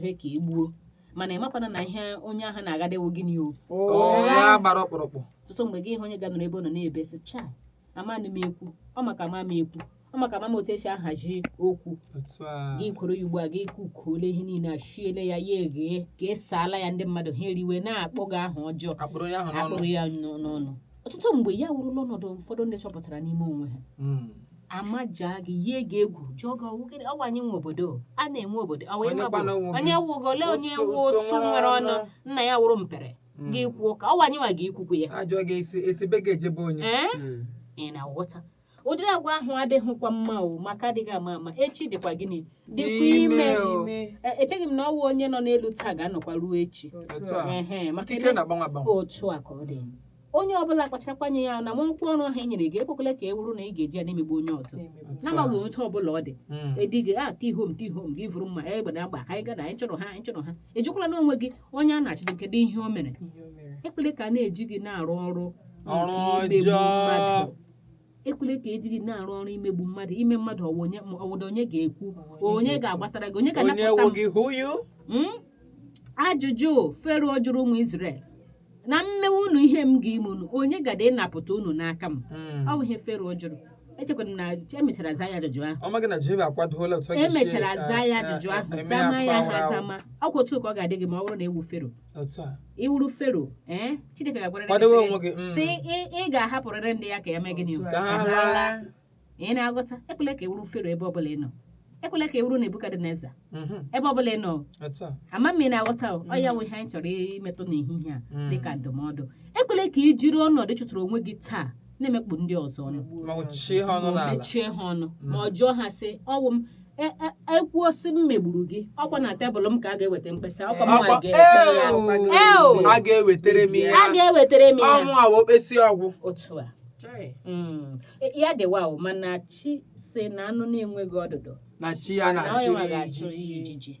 jee ka e gbuo mana ị makwana na ihe onye ahụ na-agadewo gị n'ihu Ọ ya gbara ọkpụrụkpụ ọtụtụ mgbe gị hụ onye ga-anọrọ ebe ọ nọ na-ebe sị chai amanụ m ekwu ọ maka ama m ekwu ọ maka ama m otu esi ahazi okwu otu a gị kwuru ya ugbu a gị kukuole ihe niile a shiele ya ya eghee ka esaala ya ndị mmadụ ha eriwe na-akpọ gị aha ọjọọ akpụrụ onye ahụ n'ọnụ akpụrụ ya n'ọ- n'ọnụ ọtụtụ mgbe ya wụrụla ọnọdụ ụfọdụ ndị chọpụtara n'ime onwe ha Mm. amajaa gị yie gị egwu jụọ gị ọwụ gịnị ọwa anyị nwe obodo a na-enwe obodo ọwa Onye ịma bụ kwana onwe gị? onye wụgo ole onye Ụsụ- wụ ụsụ ụsụ nwere ọnụ ọnụ. nna ya wụrụ mpere Mm. gị kwuo ka ọwa anyị nwa gị ikwukwu ya ajụọ gị esi esi be gị eje be onye ee Mm. ị na-aghọta ụdịrị agwa ahụ adịghịkwa mma o maka adịghị ama ama echi dịkwa gịnị dịkwa ime Ime o. ime E- echeghị m na ọwa onye nọ n'elu taa ga-anọkwa ruo echi Otu a. Ehe, maka ikike ele- na-agbanwe agbanwe otu a ka ọ dị onye ọbụla kpacharakwa anya ya na nwa ọkwa ọrụ ahụ e nyere gị ekwekwala ka ọ wụrụ na ị ga-eji ya na-emegbu onye ọzọ na-emegbu. n'amaghị otu ọbụla ọ dị Mm. edighị a ka ihom ka ihom gị vuru mma egbe na agba ka anyị gana anyị chọrọ ha anyị chọrọ ha ị jụkwala onwe gị onye a na-achụdo kedu ihe o mere Ihe o mere. ekwele ka a na-eji gị na-arụ ọrụ nke Ọrụ imegbu ọjọọ. mmadụ ekwele ka ejiri na-arụ ọrụ imegbu mmadụ ime mmadụ ọwa onye ma ọwụda onye ga-ekwu onye ga-agbatara gị onye onye ga-anapụta m wụghị hụ yu Mm? ajụjụ Fero jụrụ ụmụ Izrel na m mewe unu ihe m ga-ime unu onye gada ịnapụta unu n'aka m ọ bụ ihe Fero jụrụ echekwara m na emechara za ya ajụjụ ahụ ọ maghị na Jehova akwadola otu ọ ga-esi, emechara eh, za ya eh, ajụjụ eh, ahụ eme zama ya akwa ha awara awara. zama ọkwa otu ka ọ ga-adị gị ma ọ bụrụ na ị wụ Fero otu a ị wụrụ Fero ee Chineke ga-agwara gị kwadowe sị- onwe gị mm. sị "Ị- ị ga-ahapụrịrị ndị ya ka e mee gịnị o? Otu a. Ka ha laa. laa. ị na-aghọta ekwela ka ị wụrụ Fero ebe ọbụla ị nọ ekwela ka ị wụrụ Nebukadneza Mhm. ebe ọbụla ị nọ otu a ama m ị na-aghọta o ọ ya wụ ihe anyị chọrọ imetụ n'ehihie a Mm. dịka ndụmọdụ ekwela ka i jiri ọnọdụ ị chọtara onwe gị taa na-emekpu ndị ọzọ ọnụ ma ọ chie ha ọnụ ma o n'ala mechie ha ọnụ ma ọ jụọ ha sị ọwụ m e- e- ekwuo sị m megburu gị ọkwa na tebụl m ka a ga-eweta mkpesa ọkwa m nwa Akwa- ga-ekpe ya Eo! a ga-ewetara m ya a ga-ewetara m ya ọnwụ a wee kpesi ọgwụ otu a Chai. Mm. E- ya dịwa o mana chi sị na anụ na-enweghị ọdụdụ na chi ya na na onye nwa ga-achụ na-achụ ijiji